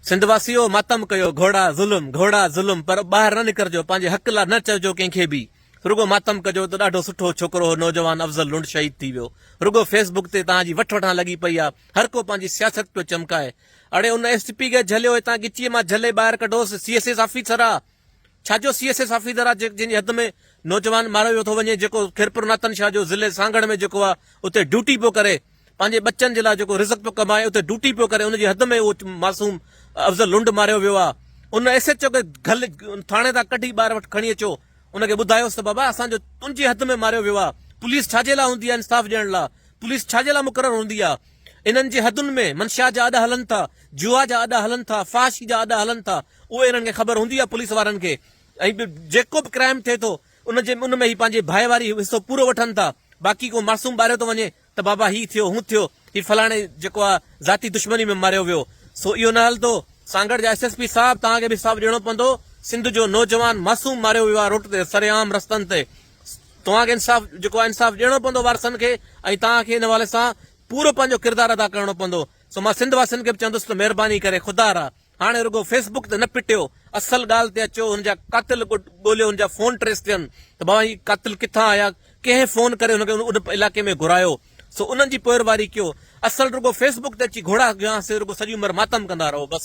سنڌ واسيو ماتم ڪيو گهوڙا ظلم گهوڙا ظلم پر ٻاهر نه نڪرجو پنهنجي حق لا نه چئجو ڪنهن کي به رڳو ماتم ڪجو ته ڏاڍو سٺو ڇوڪرو هو نوجوان افضل لنڊ شهيد ٿي ويو رڳو فيس بڪ تي توهان جي وٺ وٺان لڳي پئي آ هر ڪو پنهنجي سياست پيو چمڪائي اڙي ان ايس پي کي جهليو هتان ڳچيء مان جهلي ٻاهر ڪڍوس سي ايس ايس آفيسر آ ڇا جو سي ايس ايس آفيدر آ جنهن جي حد ۾ نوجوان ماريو ويو ٿو وڃي جيڪو خيرپور ناتن شاهه جو ضلعي سانگهڙ ۾ جيڪو آ اتي ڊيوٽي پيو ڪري پنهنجي ٻچن جي لاء جيڪو رزق پيو ڪمائي اتي ڊيوٽي پيو ڪري ان جي حد ۾ اهو معصوم افضل لنڊ ماريو ويو آ ان ايس ايچ او کي گهل ٿاڻي تان ڪڍي ٻاهر وٽ کڻي اچو ان کي ٻڌايوس ته بابا اسان جو تنهنجي حد ۾ ماريو ويو آ پوليس ڇا جي لاء هوندي آ انصاف ڏيڻ لاء پوليس ڇا جي لاء مقرر هوندي آ انهن جي حدن ۾ منشيات جا اڏا هلن ٿا جوا جا اڏا هلن ٿا فحاشي جا اڏا هلن ٿا اهي انهن کي خبر هوندي آهي پوليس وارن کي ۽ به جيڪو به ڪرائم ٿئي ٿو ان جي ان ۾ هي پنهنجي ڀائي واري حصو پورو وٺن ٿا باقي ڪو معصوم ٻاريو ٿو وڃي ته بابا هي ٿيو هون ٿيو هي فلاڻي جيڪو آهي ذاتي دشمني ۾ ماريو ويو سو اهو نه هلندو سانگهڙ جا ايس ايس پي صاحب توهان کي به حساب ڏيڻو پوندو سنڌ جو نوجوان معصوم ماريو ويو آهي روٽ تي سري عام رستن تي توهان کي انصاف جيڪو آهي انصاف ڏيڻو پوندو وارثن کي ۽ توهان کي ان حوالي سان پورو پنهنجو ڪردار ادا ڪرڻو پوندو سو مان سنڌ واسين کي به چوندس ته مهرباني ڪري خدا را هاڻي رڳو فيس بڪ تي نه پٽيو اصل ڳالهه تي اچو هن جا قاتل ڳوليو هن جا فون ٽريس ٿين ته بابا هي قاتل ڪٿان آيا ڪنهن فون ڪري هن کي ان علائقي ۾ گهرايو سو انهن جي پوئرواري ڪيو اصل رڳو فيس بڪ تي اچي گهوڙا گهيان سي رڳو سڄي عمر ماتم ڪندا رهو بس.